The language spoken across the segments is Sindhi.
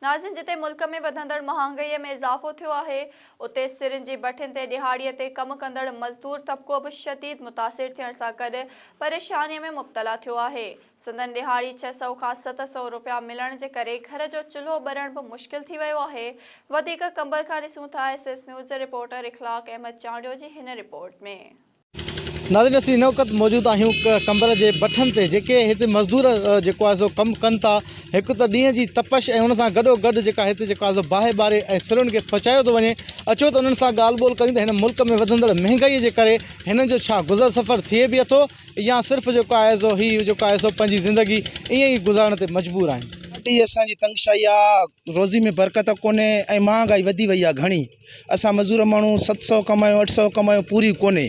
ناظرين جتي ملڪ ۾ وڌندڙ مهانگئي ۾ اضافو ٿيو آهي اتي سرن جي ڀٺين تي ڏهاڙي تي ڪم ڪندڙ مزدور طبقو به شديد متاثر ٿيڻ سان گڏ پريشاني ۾ مبتلا ٿيو آهي سندن ڏهاڙي ڇهه سؤ کان ست سؤ روپيا ملڻ جي ڪري گهر جو چلهو ٻرڻ به مشڪل ٿي ويو آهي وڌيڪ قمبر کان ڏسون ٿا ايس ايس نيوز جي رپورٽر اخلاق احمد چانڊيو جي هن رپورٽ ۾. ناظرين اسين هن وقت موجود آهيون قمبر جي بٺن تي جيڪي هتي مزدور جيڪو آهي سو ڪم ڪن ٿا هڪ ته ڏينهن جي تپش ۽ ان سان گڏو گڏ جيڪا هتي جيڪو آهي سو باهه ٻاري ۽ سرن کي پچايو ٿو وڃي اچو ته انهن سان ڳالهه ٻولهه ڪريون ته هن ملڪ ۾ وڌندڙ مهنگائي جي ڪري هنن جو ڇا گذر سفر ٿئي به اٿو يا صرف جيڪو آهي سو هي جيڪو آهي سو پنهنجي زندگي ائين ئي گذارڻ تي مجبور آهن. اٽي اسان جي تنگشائي آ روزي ۾ برڪت ڪونهي ۽ مهانگائي وڌي وئي آ گهڻي. اسان مزور ماڻهو ست سئو ڪمايون اٺ سئو ڪمايون پوري ڪونهي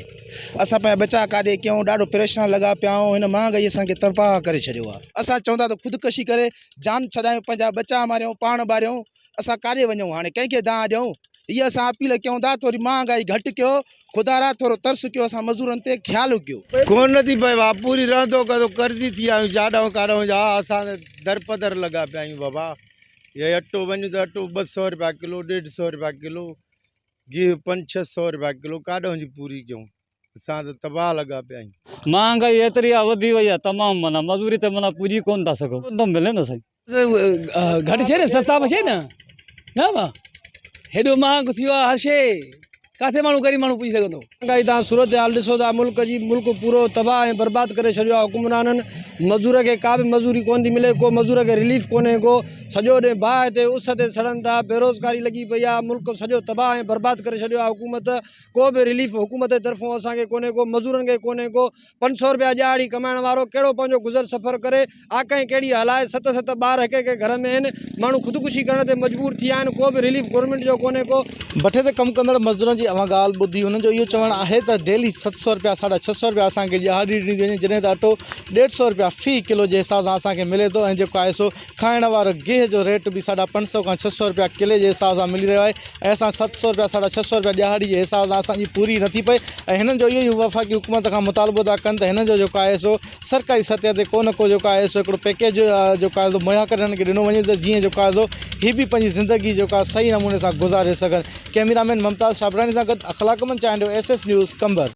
اسان پنهنجا ٻچا ڪاڏي ڪيون ڏاڍو پريشان لڳا پيا آهيون هن مهانگائي اسان کي تباهه ڪري ڇڏيو آهي اسان چون ٿا ته خودڪشي ڪري جان ڇڏايون پنهنجا ٻچا ماريون پاڻ ٻاريون اسان ڪاڏي وڃون هاڻي ڪنهن کي دانهن ڏيون هيء اسان اپيل ڪيون ٿا ٿوري مهانگائي گهٽ ڪيو خدا را ٿورو ترس ڪيو اسان مزورن تي خيال ڪيو. ڪون نه ٿي پئي وا پوري رهندو ڪندو قرضي ٿي ويا آهيون جاڏائون ڪاڏائون جا اسان درپدر لڳا پيا آهيون بابا. اهي اٽو وڃ ته اٽو ٻه سؤ رپيا ڪلو ڏيڍ سؤ رپيا ڪلو گيهه پنج ڇهه سؤ رپيا ڪلو ڪاڏ وڃي پوري ڪيون اسان ته تباهه لڳا پيا آهيون مهانگائي ايتري آهي وڌي وئي آهي تمام معنيٰ مزوري تي معنيٰ پڄي ڪونه ٿا سگهون ڪونه ٿو ملي نه سائين. گهٽ شي نه سستا به شي نه نه با هيڏو مهانگو ٿي ويو آهي هر شي. ڪاٿي ماڻهو غريب ماڻهو پڄي سگهندو. مهانگائي تان صورتحال ڏسو ٿا ملڪ جي، ملڪ پورو تباهه ۽ برباد ڪري ڇڏيو آهي حڪمرانن، مزدور کي ڪا به مزوري ڪونه ٿي ملي، ڪو مزدور کي رليف ڪونهي ڪو، سڄو ڏينهن باهه تي اس تي سڙن ٿا، بيروزگاري لڳي پئي آهي، ملڪ سڄو تباهه ۽ برباد ڪري ڇڏيو آهي حڪومت، ڪو به رليف حڪومت جي طرفون اسان کي ڪونهي ڪو، مزدورن کي ڪونهي ڪو، پنج سؤ رپيا ڄاڙ ئي ڪمائڻ وارو ڪهڙو پنهنجو گذر سفر ڪري آڪهين ڪهڙي هلائي ست ست ٻار هڪ هڪ گهر ۾ آهن ماڻهو خودڪشي ڪرڻ تي مجبور ٿي ويا آهن ڪو به رليف گورنمينٽ جو ڪونهي ڪو ڀٺي تي ڪم ڪندڙ مزدورن جي اوهان ڳالهه ٻڌي انهن جو اهو چوڻ آهي ته ڊيلي ست سؤ رپيا ساڍا ڇهه سؤ رپيا اسان کي ڄاڙ ڏني ٿي وڃي جڏهن ته اٽو ڏيڍ سؤ رپيا في ڪلو جي حساب سان اسان کي ملي ٿو ۽ جيڪو آهي سو کائڻ وارو گيهه جو ريٽ به ساڍا پنج سؤ کان ڇهه سؤ رپيا ڪلي جي حساب سان ملي رهيو آهي ۽ اسان ست سؤ رپيا ساڍا ڇهه سؤ رپيا ڏهاڙي جي حساب سان اسان جي پوري نٿي پئي ۽ هنن جو اهو ئي وفاقي حڪومت کان مطالبو ٿا ڪن ته هنن جو جيڪو آهي سو سرڪاري سطح تي ڪو نه ڪو جيڪو آهي سو هڪڙو پيڪيج جيڪو آهي سو مهيا ڪري هنن کي ڏنو وڃي ته جيئن جيڪو آهي سو هي به پنهنجي زندگي جيڪو آهي صحيح نموني سان گذاري سگهن ڪئميرا مين ممتاز شابراڻي سان گڏ Akhlaqmand Chandio S S news Qambar